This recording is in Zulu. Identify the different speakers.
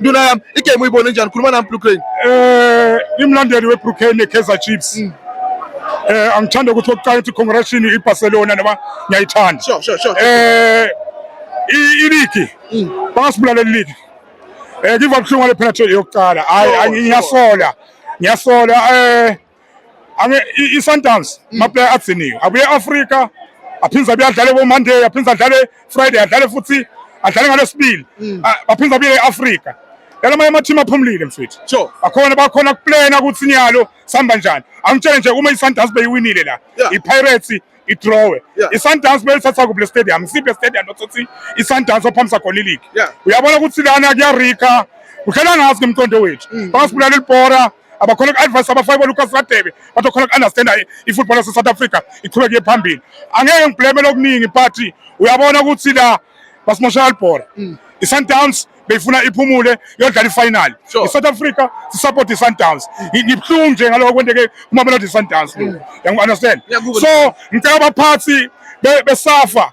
Speaker 1: nduna yami igame uyibone njani khuluma nami blue crane eh
Speaker 2: imlandeli weblue crane nekaizer chiefs mm. eh angithanda ukuthi oqala ukuthi congratulation ibarcelona noma ngiyayithanda sure sure
Speaker 1: sure eh
Speaker 2: iligi mm. bangasibulalela iligi eh ngiva buhlungu ngale penalty yokuqala hayi ngiyasola ngiyasola eh i-sundowns mm. amaplayer agciniwe abuye e-afrika aphinde abuye adlale komonday aphinde adlale friday adlale futhi adlale ngalesibili mm. baphinde abuye e-afrika yala amanye amathimu aphumulile mfethu sure bakhona bakhona
Speaker 1: kuplena
Speaker 2: ukuthi niyalo sihamba njani angitshele nje uma i-sundowns beyiwinile la i-pirates idrowe i-sundowns beyithatha kuble stadium siphe stadium othothi i-sundowns ophambisa khona iligi uyabona ukuthi lana kuyarika kudlala ngazi ngemqondo wethu mm. bangasibulala ilibhora abakhona ku-advice abafake bolucas radebe bathi okhona ku-understanda i-football yase-south africa iqhubeke phambili angeke ngibhlemele okuningi but uyabona ukuthi la basimoshela libhola mm. i-sundowns beyifuna iphumule yodlala ifinal i-south africa sisupport i-sundowns ngibuhlungu nje ngaloko kwenteke kumamelodi i-sundowns mm. yangu-understand so ngicela abaphathi besafa